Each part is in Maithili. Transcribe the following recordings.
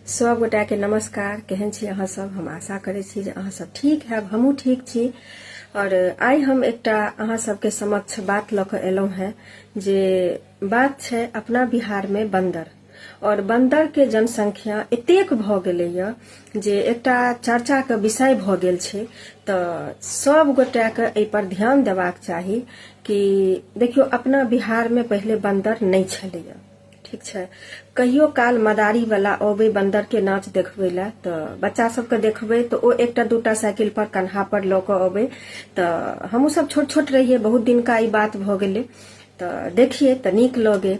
सब गोटा के नमस्कार केहन छी अहाँ सब हम आशा करै छी जे अहाँ सब ठीक हैब हमहूँ ठीक छी और आइ हम एकटा अहाँ सबके समक्ष बात लऽ कऽ एलहुँ हेँ जे बात छै अपना बिहारमे बन्दर और बन्दर के जनसंख्या एतेक भऽ गेलैए जे एकटा चर्चाके विषय भऽ गेल छै तऽ सब गोटाके एहिपर ध्यान देबाक चाही कि देखियौ अपना बिहारमे पहिले बन्दर नहि छलैए ठीक छै कहियो काल मदारी वाला अबै बन्दर के नाच देखबै लए तऽ बच्चा सबके देखबै तऽ ओ एकटा दूटा साइकिल पर कन्हा पर लऽ कऽ अबै तऽ हमहूँ सब छोट छोट रहियै बहुत दिनका ई बात भऽ गेलै तऽ देखियै तऽ नीक लगे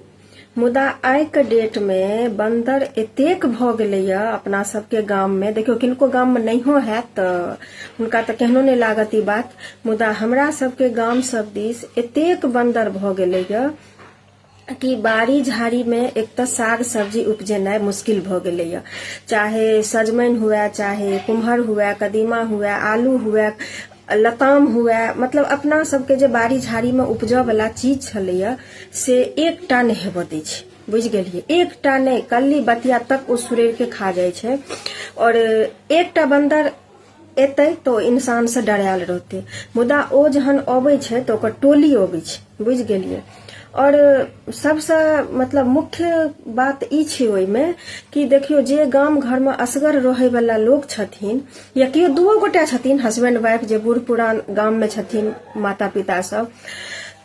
मुदा आइके डेटमे बन्दर एतेक भऽ गेलैए अपना सबके गाममे देखियौ किनको गाममे नहियो हैत तऽ हुनका तऽ केहनो नहि लागत ई बात मुदा हमरा सबके गाम सब दिस एतेक बन्दर भऽ गेलैए कि बाड़ी झाड़ीमे एक तऽ साग सब्जी उपजेनाइ मुश्किल भऽ गेलैए चाहे सजमनि हुए चाहे कुम्हर हुए कदीमा हुए आलू हुए लताम हुए मतलब अपना सबके जे बाड़ी झाड़ीमे उपजऽवला चीज छलैए से एकटा नहि हेबऽ दै छै बुझि गेलिए एकटा नहि कल्ली बतिया तक ओ सुरैरके खा जाइ छै आओर एकटा बन्दर एतै तऽ ओ इंसानसँ डरायल रहतै मुदा ओ जहन अबै छै तऽ ओकर टोली अबै छै बुझि गेलियै आओर सभसँ मतलब मुख्य बात ई छै ओहिमे कि देखियौ जे गाम घरमे असगर रहैवला लोक छथिन या केओ दूओ गोटा छथिन हस्बैंड वाइफ जे बूढ़ पुरान गाममे छथिन माता पिता सब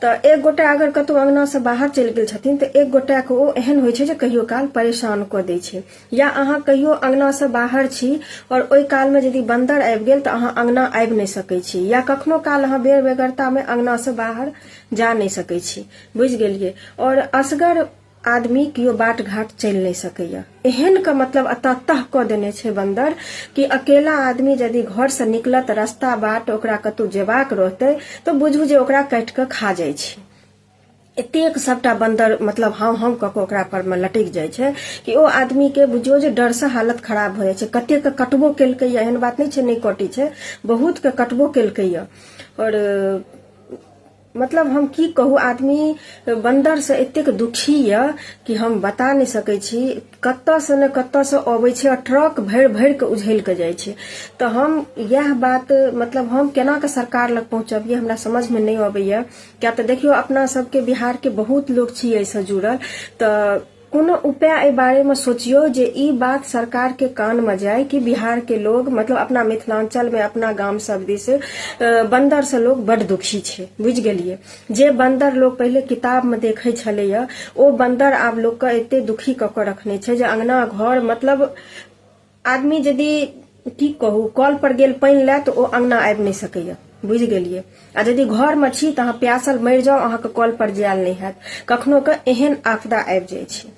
तऽ एक गोटा अगर कतहु अङ्गनासँ बाहर चलि गेल छथिन तऽ एक गोटाके ओ एहन होइ छै जे कहियो काल परेशान कऽ दै छै या अहाँ कहियो अंगना से बाहर छी और ओहि काल में यदि बंदर आबि गेल तऽ अहाँ अंगना आबि नहि सकै छी या कखनो काल अहाँ बेर बेगरता में अंगना से बाहर जा नहि सकै छी बुझि गेलियै और असगर आदमी केओ बाट घाट चलि नहि सकैया एहन के मतलब अतः तह कऽ देने छै बंदर कि अकेला आदमी यदि घर से निकलत रास्ता बाट ओकरा कतौ जेबाक रहतै तऽ बुझू जे ओकरा काटि कऽ खा जाइ छै एतेक सभटा बन्दर मतलब हम हम कऽ कऽ ओकरा पर मे लटकि जाइ छै कि ओ आदमी के बुझियौ जे डर से हालत खराब भऽ जाइ छै कते के कटबो केलकैया एहन बात नहि छै नहि कटै छै बहुत के कटबो केलकैया और मतलब हम की कहू आदमी बन्दर से एतेक दुखी यऽ कि हम बता नहि सकै छी कतऽ से ने कतऽ से अबै छै और ट्रक भरि भरि के उझैल के जाइ छै तऽ हम इएह बात मतलब हम केना के सरकार लग पहुँचबियै हमरा समझ मे नहि अबैया क्या तो देखियो अपना सबके बिहार के बहुत लोग छी ऐसे जुड़ल तो कोनो उपाय एहि बारेमे सोचियौ जे ई बात सरकारके कानमे जाय कि बिहारके लोग मतलब अपना मिथिलाञ्चलमे अपना गाम सब दिस बन्दरसँ लोक बड्ड दुखी छै बुझि गेलियै जे बन्दर लोक पहिले किताबमे देखै छलैए ओ बन्दर आब लोकके एते दुखी कऽ कऽ रखने छै जे अङ्गना घर मतलब आदमी यदि की कहू कल पर गेल पानि लए तऽ ओ अंगना आबि नहि सकैया बुझि गेलियै आ यदि घरमे छी तऽ अहाँ प्यासल मरि जाउ अहाँके कल पर जायल नहि हैत कखनो के एहन आपदा आबि जाइ छै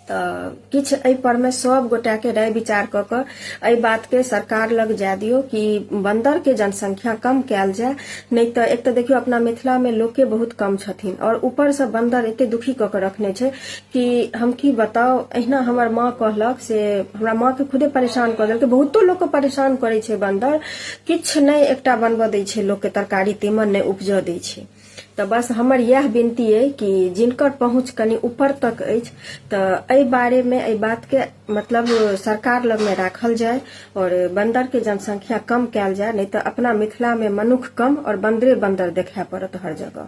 तऽ किछु एहि परमे सब गोटाके राय विचार कऽ कऽ एहि बातके सरकार लग जाय दियौ कि बन्दरके जनसंख्या कम कयल जाय नहि तऽ एक तऽ देखियौ अपना मिथिलामे लोके बहुत कम छथिन आओर ऊपरसँ बन्दर एते दुखी कऽ कऽ रखने छै कि हम की बताउ अहिना हमर माँ कहलक से हमरा माँके खुदे परेशान कऽ देलकै बहुतो लोकके परेशान करै छै बन्दर किछु नहि एकटा बनबऽ दै छै लोकके तरकारी तीमन नहि उपजऽ दै छै तऽ बस हमर इएह विनती अइ कि जिनकर पहुँच कनि ऊपर तक अछि तऽ एहि बारेमे एहि बातके मतलब सरकार लगमे राखल जाय आओर बन्दरके जनसंख्या कम कयल जाय नहि तऽ अपना मिथिलामे मनुख कम आओर बन्दरे बन्दर देखाय पड़त हर जगह